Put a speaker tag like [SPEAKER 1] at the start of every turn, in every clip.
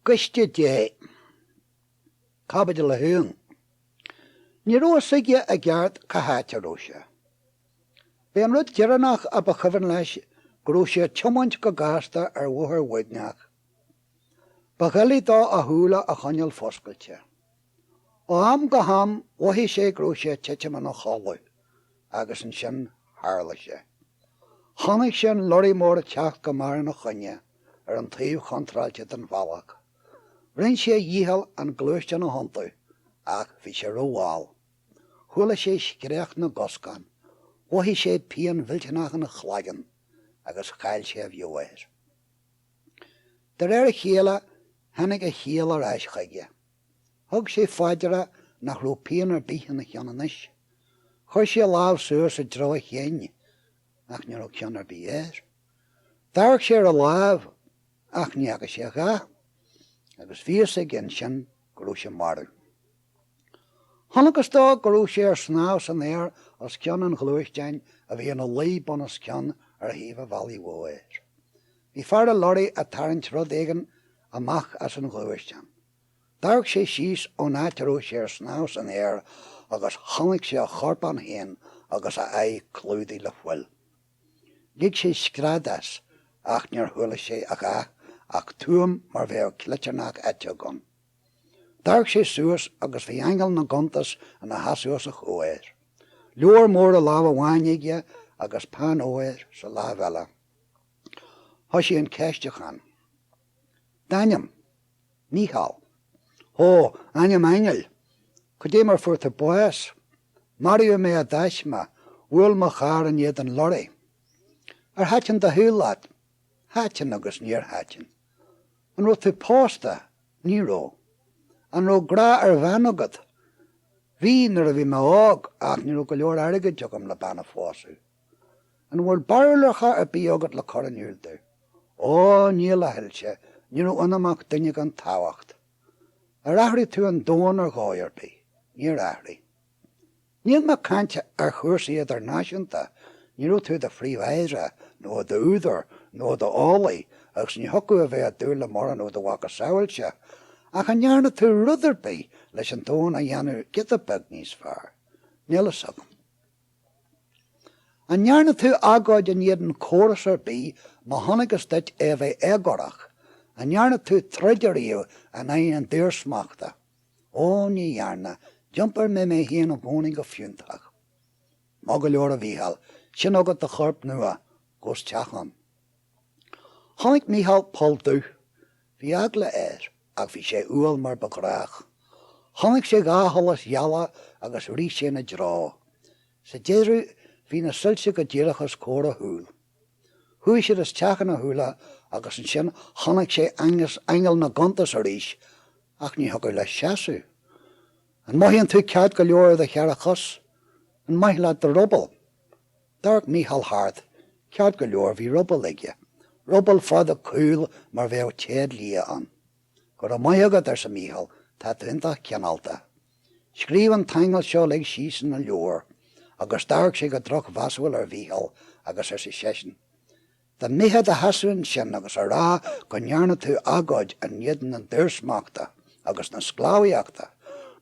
[SPEAKER 1] gCoiste Dé. Caibidil 1. Ní raibh fhios aige i gceart cá háit a raibh sé. B'é an rud deireannach a ba chuimhin leis go raibh sé ag tiomáint go gasta ar bhóthar uaigneach. Ba dhoiligh dó a shúile a choinneáil foscailte. Ó am go ham mhothaigh sé go raibh sé ag titim ina chodladh agus ansin tharla sé. Chonaic sé an lorraí mór ag teacht go mear ina choinne ar an taobh chontráilte den bhealach. Rinn sé a dhícheall an gluaisteán a thiontú ach bhí sé rómhall. Chuala sé scréach na gcoscán, mhothaigh sé pian mhillteanach ina chloigeann agus chaill sé a mheabhair. De réir a chéile tháinig a chiall ar ais chuige. Thug sé faoi deara nach raibh pian ar bith ina cheann anois. Chuir sé a lámh suas i dtreo a chinn ach ní raibh ceann ar bith air. D'amharc sé ar a lámh ach ní fhaca sé a dhath agus bhí fhios aige ansin go raibh sé marbh. Chonacthas dó go raibh sé ar snámh san aer os cionn an ghluaisteáin a bhí ina luí bunoscionn ar thaobh an bhealaigh mhóir. Bhí fear an lorraí a' tarraingt rud éigin amach as an ghluaisteán. D'amharc sé síos ón áit a raibh sé ar snámh san aer agus chonaic sé a chorpán féin agus a aghaidh clúdaith le fuil. Lig sé scread as ach níor chuala sé a dhath ach tuaim mar bheadh cleitearnach eiteog ann. D'amharc sé suas agus bhí Aingeal na gCuntas ina sheasamh os a chomhair, leabhar mór i lámh amháin aige agus peann óir sa lámh eile. Thoisigh an ceistiúchán. D'ainm? Mícheál. Ó, ainm aingil! Cad é mar fuair tú bás? Maraíodh mé i dtaisme, bhuail mo charr in éadan lorraí. Ar thaitin do shaol leat? Thaitin agus níor thaitin. An raibh tú pósta? Ní raibh. An raibh grá ar bhean agat? Bhí, nuair a bhí mé óg, ach ní raibh go leor airgid agam le bean a phósadh. An bhfuil barúlacha ar bith agat le cur in iúl domh? Ó, níl a Shoilse, ní raibh ionam ach duine gan tábhacht. Ar athraigh tú an domhan ar dhóigh ar bith? Níor athraigh. Níl mé ag caint ar chúrsaí idirnáisiúnta, ní raibh tú i do phríomh-aire, nó i d'údar, nó i d'eolaí, agus ní thiocfadh a bheith ag dúil le mórán ó do mhacasamhailse, ach an ndearna tú rud ar bith leis an domhan a dhéanamh giota beag níos fearr? Níl fhios agam. An ndearna tú agóid in éadan córas ar bith má chonacthas duit é a bheith éagórach? An ndearna tú troid ariamh in aghaidh an daorsmachta? Ó, ní dhearna, d'iompair mé mé féin i gcónaí go fiúntach. Maith go leor, a Mhícheáil, sin agat do chorp nua, gabh isteach ann. Chonaic Mícheál poll dubh Bhí eagla air, ach bhí sé umhal mar ba ghnách. Chonaic sé dhá sholas gheala agus rith sé ina dtreo. Sa deireadh, bhí na soilse go díreach os comhair a shúl. Chuaigh siad isteach ina shúile agus ansin chonaic sé aingeal na gcuntas arís, ach ní thiocfadh leis seasamh. An mothaíonn tú ceart go leor ar do cheithre chos? An maith leat do ruball? D'amharc Mícheál thart. Ceart go leor, bhí ruball aige. Ruball fada caol mar bheadh téad liath ann. Go raibh maith agat, arsa Mícheál, tá tú iontach cineálta. Scríobh an t-aingeal seo uilig síos ina leabhar. Agus d'amharc sé go drochmheasúil ar Mhícheál agus arsa seisean, Dá mbeifeá i do sheasamh ansin agus a rá go ndearna tú agóid in éadan na daorsmachta agus na sclábhaíochta,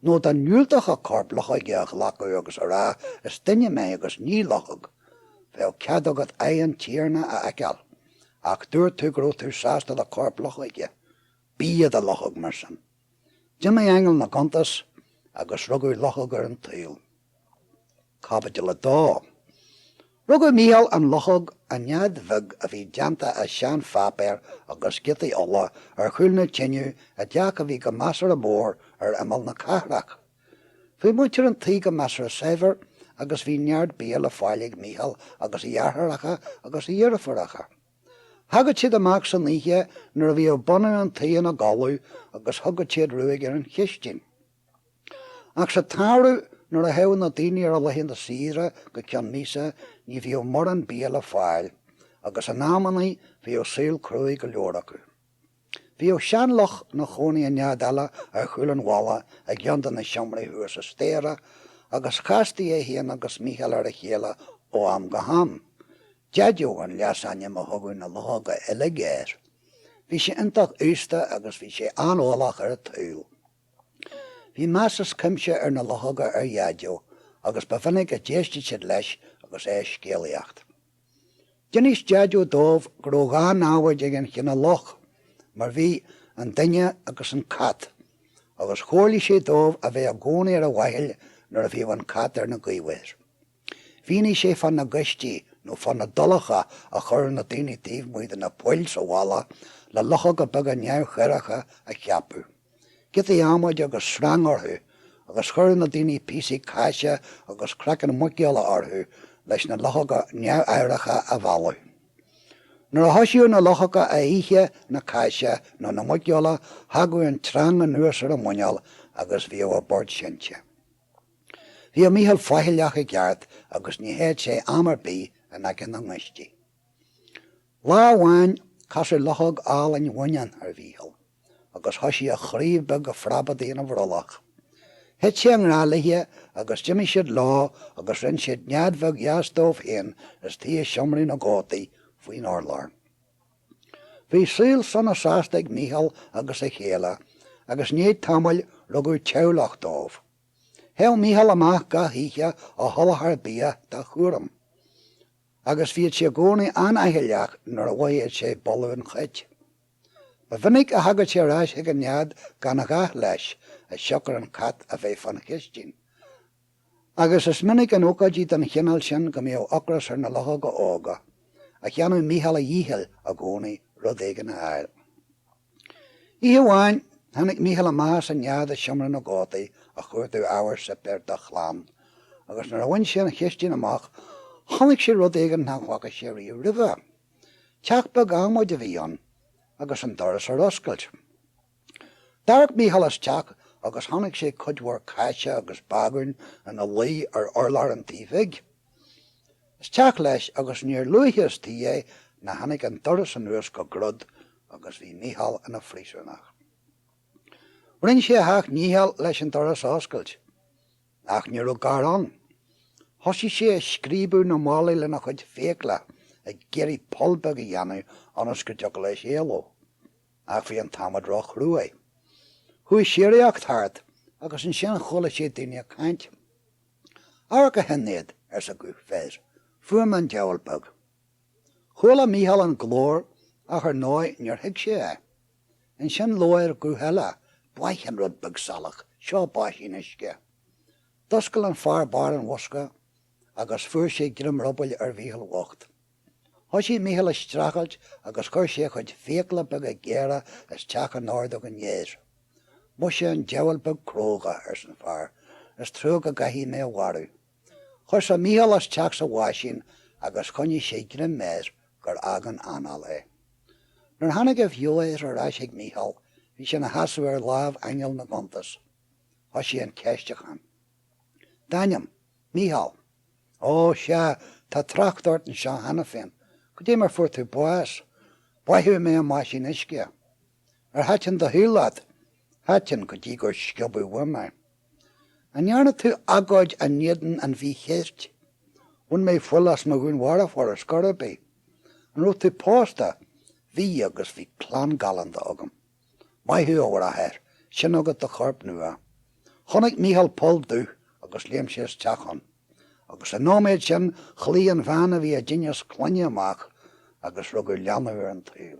[SPEAKER 1] nó dá ndiúltófá corp luchoige a ghlacadh agus a rá is duine mé agus ní luchóg, bheadh cead agat aghaidh an Tiarna a fheiceáil. Ach dúirt tú go raibh tú sásta le corp luchoige. Bí i do luchóg, mar sin. D'imigh aingeal na gcuntas agus rugadh luchóg ar an tsaol. Caibidil 2. Rugadh Mícheál an luchóg i nead bheag a bhí déanta as seanpháipéar agus giotaí olla ar chúl na tineadh i dteach a bhí go measartha mór ar imeall na cathrach. Bhí muintir an tí go measartha saibhir agus bhí neart bia le fáil ag Mícheál agus a dheartháireacha agus a dheirfiúracha. Thagadh siad amach san oíche nuair a bhíodh bunadh an tighe ina gcodladh agus thugadh siad ruaig ar an chistin. Ach sa tsamhradh nuair a théadh na daoine ar a laethanta saoire go ceann míosa ní bhíodh mórán bia le fáil agus in amannaí bhíodh saol cruaidh go leor acu. Bhíodh seanluch 'na chónaí i nead eile ar chúl an bhalla i gceann de na seomraí thuas sa staighre, agus chastaí é féin agus Mícheál ar a chéile ó am go ham. Deaideo an leasainm a thugadh na luchóga uilig air. Bhí sé iontach aosta agus bhí sé an-eolach ar an tsaol. Bhí meas is cuimse ag na luchóga ar Dheaideo, agus ba mhinic a d'éistfeadh siad leis agus é ag scéalaíocht. D'inis Deaideo dóibh go rabh dhá namhaid ag an chine luch, mar bhí, an duine agus an cat, agus chomhairligh sé dóibh a bheith i gcónaí ar a bhfaichill nuair a bhíodh an cat ar na gaobhair. Mhínigh sé fá na gaistí nó fá na dulacha a chuireadh na daoiní taobh amuigh de na poill sa bhalla le luchóga beaga neamhchoireacha a cheapadh. giotaí adhmaid agus sreang orthu, agus chuireadh na daoine píosaí cáise agus craiceann muiceola orthu leis na luchóga neamhaireacha a mhealladh. Nuair a thoisíodh na luchóga a ithe na cáise nó na muiceola thagadh an tsreang anuas ar a muineál agus bhíodh a bport seinnte. Bhíodh Mícheál faichilleach i gceart agus ní théadh sé am ar bith in aice na ngaistí. Lá amháin casadh luchóg álainn bhaineann ar Mhícheál. agus thoisigh a chroí beag a phreabadaigh ina bhrollach. Thit sé i ngrá léithe agus d'imigh siad leo agus rinn siad nead bheag dheas dóibh féin istigh i seomra na gcótaí, faoin urlár. Bhí saol sona sásta ag Mícheál agus a chéile, agus i ndiaidh tamaill rugadh teaghlach dóibh. Théadh Mícheál amach gach oíche á sholáthar bia dá chúram, agus bhíodh sé i gcónaí an-fhaichilleach nuair a mhothaíodh sé boladh an chait. Ba mhinic a thagadh sé ar ais chuig an nead gan a dhath leis, as siocair an cat a bheith fán chistin, agus is minic in ócáidí den chineál sin go mbíodh ocras ar na luchóga óga, ach dhéanadh Mícheál a dhícheall i gcónaí rud éigin a fháil. Oíche amháin, tháinig Mícheál amach as an nead i seomra na gcótaí a chuartú ábhar suipéir dá chlann, agus nuair a bhain sé an chistin amach, chonaic sé rud éigin nach bhfaca sé riamh roimhe. Teach beag adhmaid a bhí ann agus an doras ar oscailt. D'amharc Mícheál isteach agus chonaic sé cuid mhór cáise agus bagúin ina luí ar urlár an tí bhig. Isteach leis agus níor luaithe istigh é ná tháinig an doras anuas go grod agus bhí Mícheál ina phríosúnach. Rinn sé a sheacht ndícheall leis an doras a oscailt. Ach ní raibh gar ann. Thosaigh sé a scríobadh na mballaí lena chuid fiacla, ag iarraidh poll beag a dhéanamh ionas go dtiocfadh leis éaló. Ach bhí an t-adhmad róchruaidh. Chuaigh síoraíocht thart, agus ansin chuala sé daoine ag caint. Amharc, a Shinéad, arsa guth fir, fuair mé an diabhal beag. Chuala Mícheál an glór, ach ar ndóigh níor thuig sé é. Ansin labhair guth eile, Báith an rud beag salach seo báisín uisce. D'oscail an fear barr an bhosca agus fuair sé greim rubaill ar Mhícheál bhocht. Thoisigh Mícheál a streachailt agus chuir sé a chuid fiacla beaga géara isteach in ordóg an fhir. Mhuise, an diabhal beag cróga, arsan fear, is trua go gcaithfidh mé a mharú. Cuireadh Micheál isteach sa bháisín agus choinnigh sé greim air gur fhág an anáil é. Nuair a tháinig a bheo ar ais chuig Micheál bhí sé ina sheasamh i láthair aingeal na gcuntas. Thoisigh an ceistiúchán. D'ainm, Micheál. Ó, sea, tá trácht ort anseo cheana féin. Goidé mar fuair tú bás. Báitheadh mé i mbáisín uisce. Ar thaitin do shaol leat? Thaitin go dtí gur sciobadh uaim é. An ndearna tú agóid i n-éadan an mhí-cheirt? Bhain mé fuil as mo dhúnmharfóir ar scor ar bith. An raibh tú pósta? Bhí, agus bhí clann galánta agam. Maith thú, a bhráthair, sin agat do chorp nua. Chonaic Mícheál poll dubh agus léim sé isteach ann. Agus sa nóiméad sin ghlaoigh an bhean a bhí i dtinneas clainne amach agus rugadh leanbh ar an tsaol.